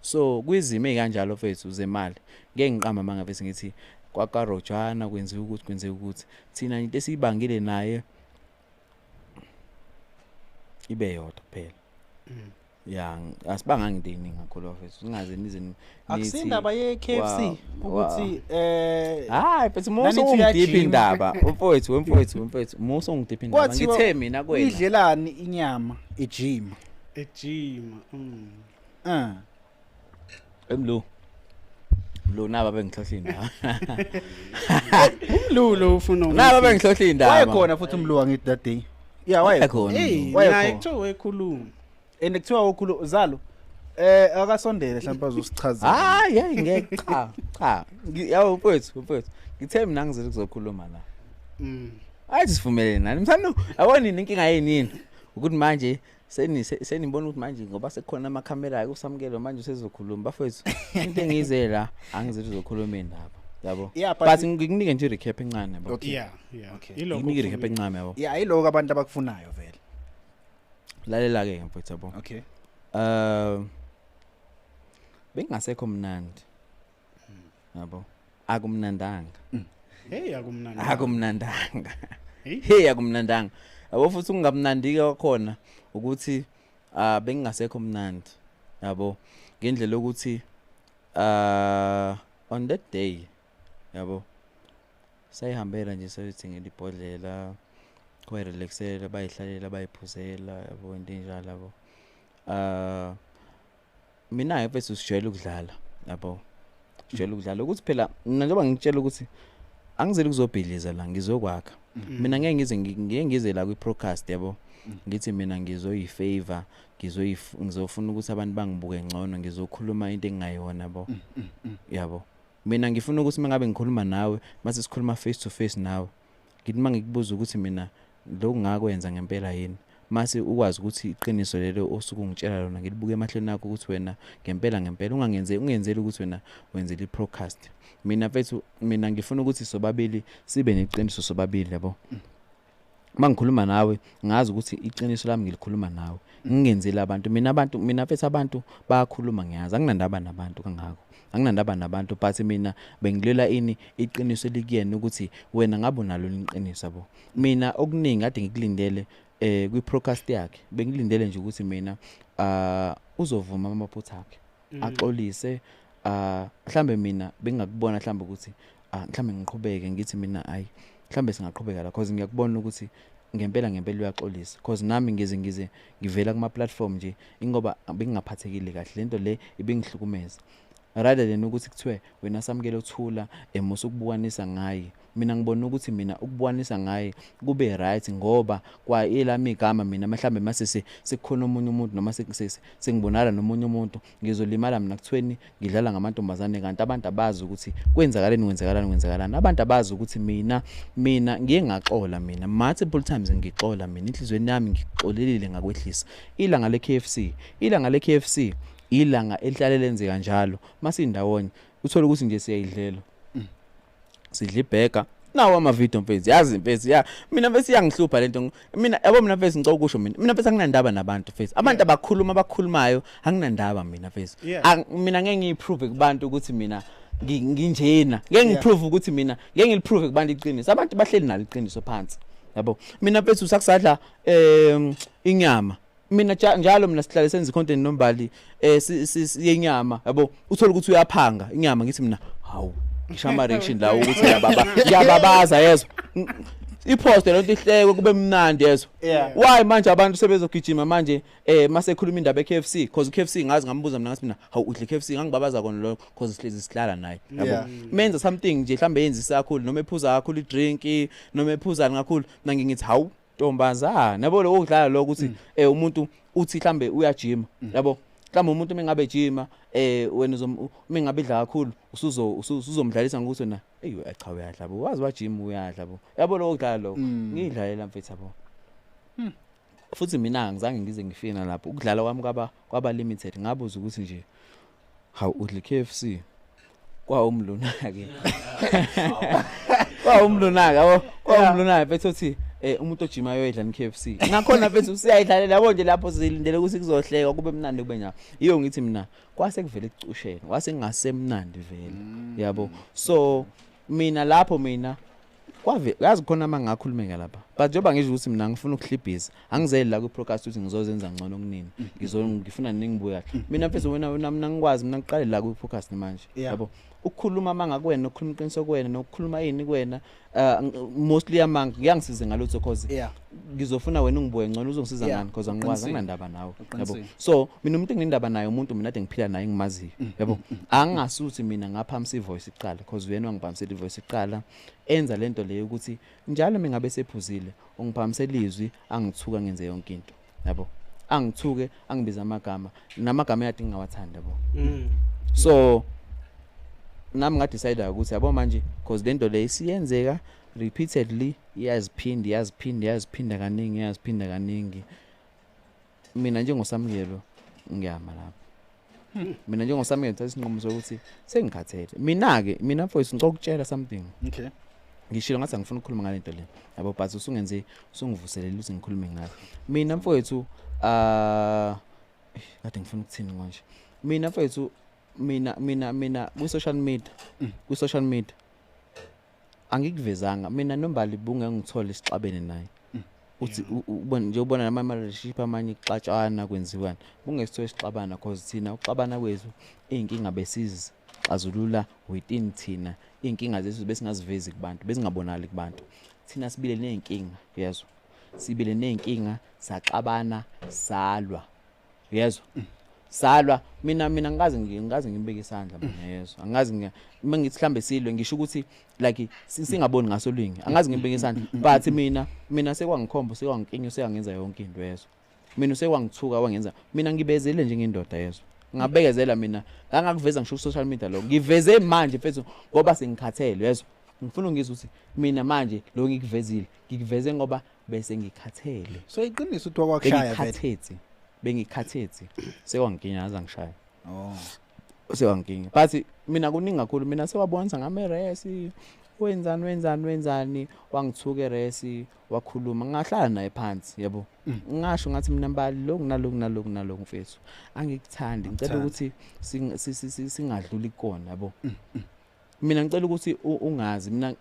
so kwizimo ezikanjalo fethu zemali ngeke ngiqamba manga bese ngithi kwakarojana kwenziwa ukuthi kwenzeka ukuthi thina into esiyibangile naye ibe yodwa kuphela mm. ya asibanga ngidini ngakholwa fethu singaze nize akusindaba ye KFC ukuthi eh hayi futhi muso ungidiphi indaba umfowethu wemfowethu wemfowethu muso ungidiphi indaba ngithe mina kwena idlelani inyama ejima ejima mm. Ah. Emlo. Lo naba bengihlohla indaba. Umlulo ufuna Naba bengihlohla indaba. Wayekhona futhi umlu wangithi that day. Yeah, wayekhona. Hey, Wayekhona. naye kuthiwa wekhuluma. And kuthiwa wokhulu zalo eh akasondele mhlawumbe azosichazela. Hayi, hey ngeke cha. Cha. Ngi- Yawo mfowethu, mfowethu. Ngithe mina ngizile kuzokhuluma la. Mm. Ayi sivumelene nani. Msano awonini inkinga yini yini? Ukuthi manje seni senibona ukuthi manje ngoba sekukhona amakhamera kusamukelo manje usezokhuluma bafethu into engize la angizithi uzokhuluma ndaba yabo yeah, but, but ngikunike nje recap encane yabo okay. yeah yeah okay iloko ngikunike recap encane yabo yeah iloko abantu abakufunayo vele lalela ke mfethu yabo okay um uh, bengasekho mnandi yabo akumnandanga mm. hey akumnandanga akumnandanga hey akumnandanga yabo futhi ukungamnandike kwakhona ukuthi ah bengingasekho mnandi yabo ngendlela ukuthi ah on that day yabo sayihambela nje sayithengela ibhodlela bayirelaxela bayihlalela bayiphuzela yabo into enjalo yabo um mina ke mfethu sijwayele ukudlala yabo sijwayele ukudlala ukuthi phela mina njengoba ngikutshela ukuthi angizeli kuzobhidliza la ngizokwakha mm. mina ngeke ngize ngeke ngize la kwi-procast yabo mm. ngithi mina ngizoyifavor ngizofuna ukuthi abantu bangibuke ngcono ngizokhuluma into engingayona bo mm, yabo mina ngifuna ukuthi uma ngabe ngikhuluma nawe mase sikhuluma face to face nawe Ngithi uma ngikubuza ukuthi mina lokhu ngakwenza ngempela yini mase ukwazi ukuthi iqiniso lelo osuke ungitshela lona ngilibuke emahlweni akho ukuthi wena ngempela ngempela ungangenze ungenzeli ukuthi wena wenzela i-procast mina mfethu mina ngifuna ukuthi sobabili sibe neqiniso sobabili yabo uma ngikhuluma nawe ngazi ukuthi iqiniso lami ngilikhuluma nawe ngingenzeli abantu mina abantu mina mfethu abantu bayakhuluma ngiyazi anginandaba nabantu kangako anginandaba nabantu but mina bengilela ini iqiniso elikuyena ukuthi wena ngabe unalo iqiniso yabo mina okuningi kade ngikulindele eh kwi podcast yakhe bengilindele nje ukuthi mina ah uzovuma amaphutha akhe mm. axolise ah mhlambe mina bengakubona mhlambe ukuthi ah mhlambe ngiqhubeke ngithi mina ayi mhlambe singaqhubeka la because ngiyakubona ukuthi ngempela ngempela uyaxolisa because nami ngize ngize ngivela kuma platform nje ingoba bengingaphathekile kahle lento le ibingihlukumeza rather than ukuthi kuthiwe wena samukele uthula emusa ukubukanisa ngaye mina ngibona ukuthi mina ukubukanisa ngaye kube right ngoba kwa elami igama mina mhlawumbe masese sekukhona omunye umuntu noma sengibonala nomunye umuntu ngizolimala mina kuthweni ngidlala ngamantombazane kanti abantu abazi ukuthi kwenzakaleni kwenzakalani kwenzakalani abantu abazi ukuthi mina mina ngiye ngaxola mina multiple times ngixola mina inhlizweni yami ngixolelile ngakwehlisa ilanga le KFC ilanga le KFC ilanga elihlale lenzeka njalo masindawonye uthola ukuthi nje siyayidlela sidla ibhega nawo amavidiyo mfethu yazi mfethu ya mina mfethu iyangihlupha lento mina yabo mina mfethu ngicela ukusho mina mina mfethu anginandaba nabantu mfethu abantu abakhuluma abakhulumayo anginandaba mina mfethu mina ngeke ngiyiprove kubantu ukuthi mina nginjena ngeke ngiprove ukuthi mina ngeke ngiliprove kubantu iqiniso abantu bahleli nalo iqiniso phansi yabo mina mfethu sakusadla um inyama mina ja- njalo mina sihlale senza icontent nombali eh si- si- si- yenyama yabo uthola ukuthi uyaphanga inyama ngithi mina hawu ngishama reaction la ukuthi ngiyababa ngiyababaza yezwa Ng- ipost lento ihlekwe kube mnandi yezwa Yeah. why manje abantu sebezogijima manje eh mase khuluma indaba eKFC because uKFC ngazi ngambuza mina ngathi mina hawu udle KFC ngangibabaza kona lokho because sihlezi sihlala naye yabo Yeah. menza something nje mhlambe yenza isakhulu noma ephuza kakhulu idrink noma ephuzani kakhulu mina ngingithi hawu ntombazana yabo lokho kudlala lokho ukuthi eh umuntu uthi mhlambe uyajima yabo mhlawumbe umuntu uma engabe ejima eh wena uzom- uma engabe idla kakhulu usuzo usu- usuzomdlalisa ngokuthi wena eyi we- cha uyadla bo wazi wajima uyadla bo yabo lokho kudlala lokho Mm. ngiyidlalela mfethu yabo Hmm. futhi mina angizange ngize ngifina lapho ukudlala kwami kwaba kwaba limited ngabuza ukuthi nje Hawu udli KFC. Kwawumlunake. Kwawumlunake, yabo. Kwawumlunake bethu uthi eh umuntu ojima yoyidla ni KFC. Nakhona bethu usiyayidlalela yabo nje lapho silindele ukuthi kuzohleka kube mnandi kube njalo. Iyo ngithi mina kwase kuvele kucushene, kwase ngasemnandi vele. Yabo. So mina lapho mina kwave yazi khona ama ngakhulumeka lapha but njengoba ngisho ukuthi mina ngifuna ukuhlibhiza angizeli la kwi-procast ukuthi ngizozenza ngcono kunini ngizo ngifuna ningibuya mina mfethu wena wena mina ngikwazi mina ngiqale la kwi-procast manje Yeah. yabo ukukhuluma amanga kuwena ukukhuluma iqiniso kuwena nokukhuluma yini kuwena uh, mostly amanga kuyangisize ngalutho cause Yeah. ngizofuna wena ungibuke ngcono uzongisiza ngani because angiwazi anginandaba nawe yabo so mina umuntu enginendaba naye umuntu mina ade ngiphila naye ngimaziyo mm, yabo mm, mm, angasuthi mina ngaphamisa ivoice iqala because uyena wangiphamisela ivoice iqala enza lento leyo ukuthi njalo mina ngabe sephuzile ungiphamisela izwi angithuka ngenze yonke into yabo angithuke angibiza amagama namagama eyadi ngingawathanda yabo so nami nga decide ukuthi yabo manje because lento le isiyenzeka repeatedly iyaziphinda iyaziphinda iyaziphinda kaningi iyaziphinda kaningi mina njengosamukelo ngiyama lapho hmm. mina njengosamukelo thatha isinqumo sokuthi sengikhathele mina-ke mina mfowethu ngicela ukutshela something okay ngishilo ngathi angifuni ukukhuluma ngale nto le yabo but usungenze usungivuselele ukuthi ngikhulume ngayo mina mfowethu uh kade ngifuna ukuthini konje mina mfowethu mina mina mina kwi social media mm. kwi social media angikuvezanga mina nombali bunge ngithole isixabene naye mm. uthi ubona nje ubona nama relationship amanye ixatshana kwenziwani kungesithola isixabana cause thina uxabana kwethu izinkinga besizi xazulula within thina izinkinga zethu besingazivezi kubantu besingabonali kubantu thina sibile nezinkinga yezwa sibile nezinkinga saxabana salwa uyezwa mm. salwa mina mina ngikaze ngikaze ngibeke isandla mm. mina yezwa angazi ngiya uma ngithi mhlambe silwe ngisho ukuthi like singaboni ngaso lingi angazi ngibeke isandla mm, but mina mina sekwangikhomba sekwangikinyo sekangenza yonke into yezwa mina usekwangithuka wangenza mina ngibezele njengendoda yezwa ngabekezela mina ngangakuveza ngisho ku social media lo ngiveze manje mfethu ngoba sengikhathele yezwa ngifuna ungizwe ukuthi mina manje lo ngikuvezile ngikuveze ngoba bese ngikhathele so iqiniso uthi wakwakushaya ngikhathethi bengikhathethi sekwangikinya aza ngishaya oh sewangikinya but mina kuningi kakhulu mina sewabonisa ngame resi wenzani wenzani wenzani wangithuke resi wakhuluma ngahlala naye phansi yabo mm. ngasho ngathi mina mbali lokhu nalokhu nalokhu nalokhu mfethu angikuthandi ngicela ukuthi singadluli kona yabo mm, mm. mina ngicela ukuthi ungazi mina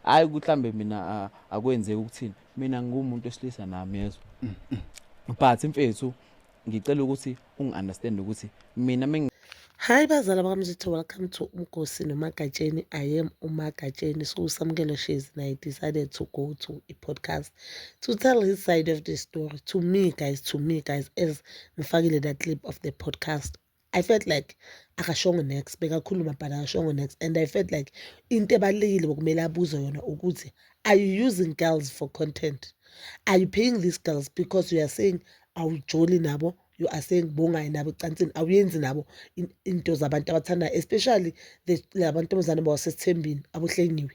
hayi kuhlambe mina akwenzeki ukuthini mina ngumuntu esilisa nami yezwa mm, mm. but mfethu ngicela ukuthi ungi-understand ukuthi mina Hi bazala bakamzitho welcome to umgosi nomagatsheni I am umagatsheni so usamukelo shezi and I decided to go to a podcast to tell his side of the story to me guys to me guys as ngifakile that clip of the podcast I felt like akashongo next bekakhuluma but akashongo next and I felt like into ebalulekile bokumele abuze yona ukuthi are you using girls for content are you paying these girls because you are saying awujoli nabo you are saying bongayi nabo ecansini awuyenzi nabo into zabantu abathandayo especially labantombazane bawasesithembini abohlengiwe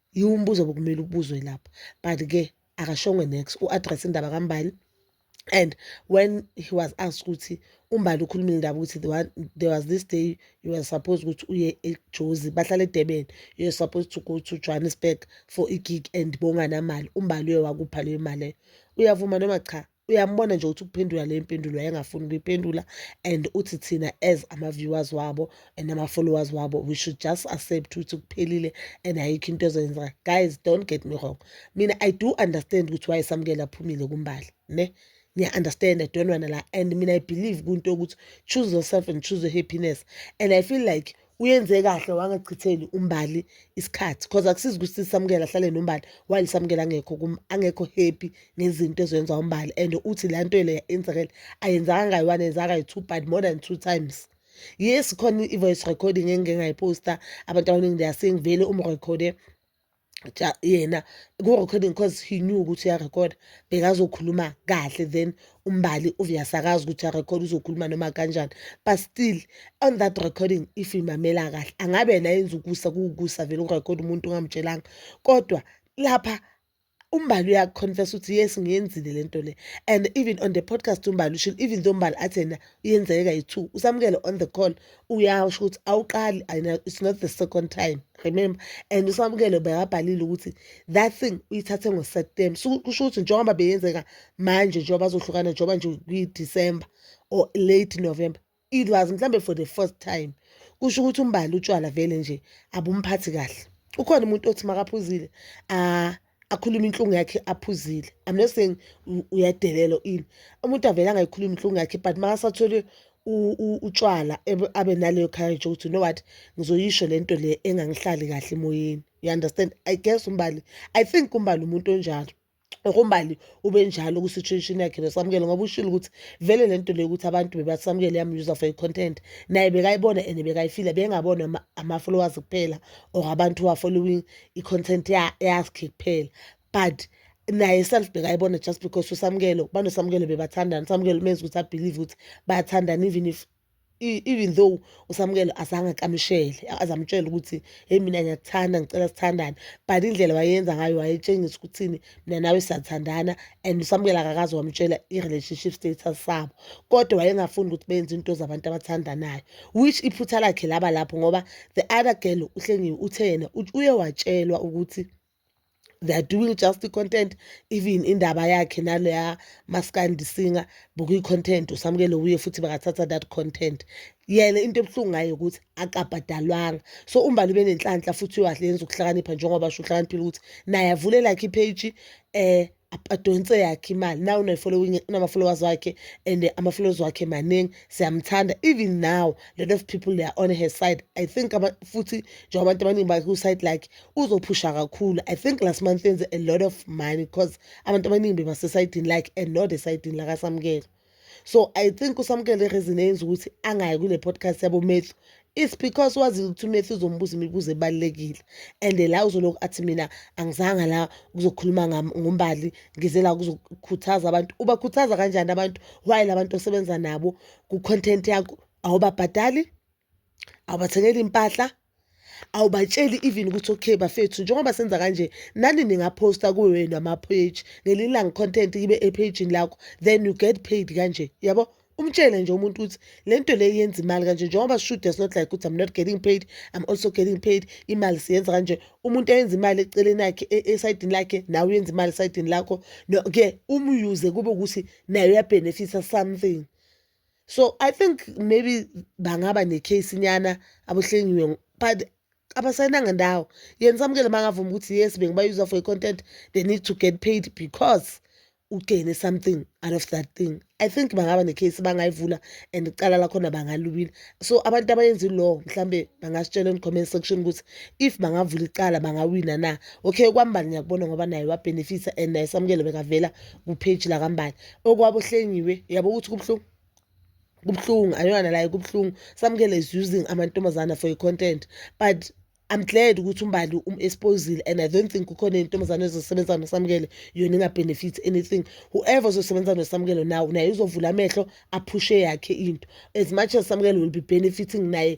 Yiwo umbuzo obekumele ubuzwe lapho but ke akashongo nex u-address indaba kambali and when he was asked ukuthi umbali ukhulumile indaba ukuthi the one, there was this day you were supposed ukuthi uye ejozi bahlala edurban you were supposed to go to johannesburg for igig and bonganamali umbali uye wakupha leyo mali leyo uyavuma noma cha uyambona nje ukuthi ukuphendula le mpendulo wayengafuni ukuyiphendula and uthi thina as ama-viewers wabo and ama-followers wabo we should just accept ukuthi kuphelile and ayikho into ezoyenzeka guys don't get me wrong mina i do understand ukuthi wayesamukela aphumile kumbali ne ngiya-understand adonwana la and mina i believe kunto yokuthi choose yourself and choose your happiness and i feel like uyenze kahle wangachitheli umbali isikhathi cause akusizi ukuthi sisamukele ahlale nombali while samukele angekho angekho happy ngezinto ezoyenza umbali and uthi la nto le yenzakele ayenzanga ngayi-one yenzaka ngayi-two but more than two times yes khona i-voice recording engike ngayiposta abantu abaningi they are saying vele umrekhode yena ku-recording cause he knew ukuthi uyarekhoda bekazokhuluma kahle then umbali uyasakaza ukuthi uyarekhoda uzokhuluma noma kanjani but still on that recording if imamela kahle angabe yena yenza ukusa kuwukusa vele ukurekhoda umuntu ungamtshelanga kodwa lapha umbali uyakuconfess ukuthi yes ngiyenzile le nto le and even on the podcast umbali ushilo even though umbali athi yena yenzeka yi-two usamukele on the call uyasho ukuthi awuqali it's not the second time remember and usamukele bekabhalile ukuthi that thing uyithathe ngo-september so kusho ukuthi njengoba beyenzeka manje njengoba bazohlukana njengoba nje kwi-december or late november it was mhlawumbe for the first time kusho ukuthi umbali utshwala vele nje abumphathi kahle ukhona umuntu othi makaphuzile ah akhulume inhlungu yakhe aphuzile i'm not saying uyadelela ini umuntu avele angayikhulumi inhlungu yakhe but makasathole utshwala abe naleyo courage ukuthi no what ngizoyisho le nto le engangihlali kahle emoyeni you understand i guess umbali i think umbali umuntu onjalo okumbali ube njalo kwi-situation yakhe besamukele ngoba ushilo ukuthi vele le nto leyo ukuthi abantu bebasamukele yamuser for i-content naye bekayibona and bekayifila bengabona ama-followers kuphela or abantu who are following i-content yakhe kuphela but naye self bekayibona just because usamukelo banosamukelo bebathandana usamukelo umenza ukuthi abelieve ukuthi bayathandana even if even though usamukelo azange akamshele azamtshela ukuthi hey mina ngiyakuthanda ngicela sithandane but indlela wayenza ngayo wayetshengisa ukuthini mina nawe siyathandana and usamukela kakaze wamtshela i-relationship status sabo kodwa wayengafuni ukuthi benze into zabantu abathandanayo which iphutha lakhe laba lapho ngoba the other girl uhlengiwe uthe yena uye watshelwa ukuthi they are doing just i-content even indaba yakhe naleya maskandi singer bukuyi-content usamukele uye futhi bakathatha that content yena into ebuhlungu ngayo ukuthi akabhadalwanga so umbali ube nenhlanhla futhi uyahle yenza ukuhlakanipha njengoba asho uhlakaniphile ukuthi naye avule lakhe ipage eh adonse yakhe imali now unefollowing unama-followers wakhe and ama-followers wakhe maningi siyamthanda even now a lot of people they are on her side i think futhi njengoba abantu abaningi baku-side lakhe uzophusha kakhulu i think last month enze a lot of money because abantu abaningi bebasesayidini lakhe and not esayidini lakasamukela so i think usamukele reason eyenza ukuthi angayi kule podcast yabo matthew it's because wazile ukuthi umatthew uzombuza imibuzo ebalulekile and la uzolokhu athi mina angizanga la kuzokhuluma ngombali ngize la kuzokhuthaza abantu ubakhuthaza kanjani abantu why la bantu osebenza nabo ku-content yakho awubabhadali awubathengeli impahla awubatsheli even ukuthi okay bafethu njengoba senza kanje nani ningaphosta kuwe wenu ama-page ngelinye ilanga content ibe ephejini lakho then you get paid kanje yabo umtshele nje umuntu ukuthi le nto le yenza imali kanje njengoba sishude is not like ukuthi i'm not getting paid i'm also getting paid imali siyenza kanje umuntu ayenza imali eceleni yakhe e, esayidini lakhe nawe uyenza imali esayidini lakho no-ke umuyuze kube ukuthi naye uyabhenefitha something so i think maybe bangaba necase nyana abohlengiwe but abasayinanga ndawo yena samukele mangavuma ukuthi yes bengibayuza for i-content they need to get paid because ugene something out of that thing i think bangaba necase bangayivula and icala lakhona bangalubila so abantu abayenza ilaw mhlawumbe bangasitshela on-comment section ukuthi if bangavula icala bangawina na okay kwambali ngiyakubona ngoba naye wabenefitha and naye samukele bekavela kupage lakambali okwabo hlengiwe yabo ukuthi kubuhlungu kubuhlungu ayona la kubuhlungu samukele is using amantombazana for i content but I'm glad ukuthi umbali um exposile and I don't think kukhona intombazane ezosebenza noSamukele yona inga benefit anything whoever ozosebenza noSamukele now naye uzovula amehlo aphushe yakhe into as much as Samukele will be benefiting naye